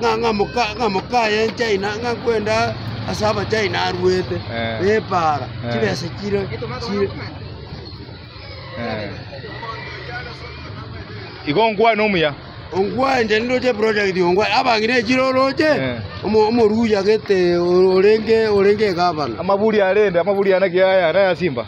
ng'a ng'a moka ng'a mokayencha ina ng'a kwenda ase abachayina arwete Eh. bepaara Eh. chibesa chire chire igo nkwane omuya ongwanje ndoche project ongwa abangire echire oroche Eh. omo- omoruya gete orenge orenge egabana amaburi arende amaburi ana kiaya na ya simba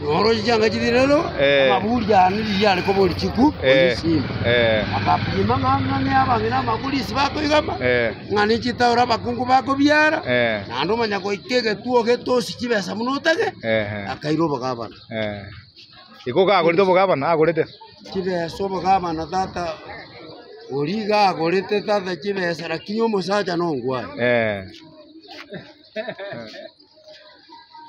Noroche chianga chibere aro, Eh. amaburi yane riria are koba orichiku Eh. orisima. Eh. Akapima ng'a ng'ane abang'ina amakuri isi bakoigama, Eh. ng'ane chitauro abakungu bakobiara, Eh. naende omonyagoika egetuo ogetosi chibesa buna otage, Ehe. akaira obogabana. Eh. Iko kagorete obogabana agorete. Chibesa obogabana tata ori iga agorete tata chibesa lakini omosacha nongwae. Eh.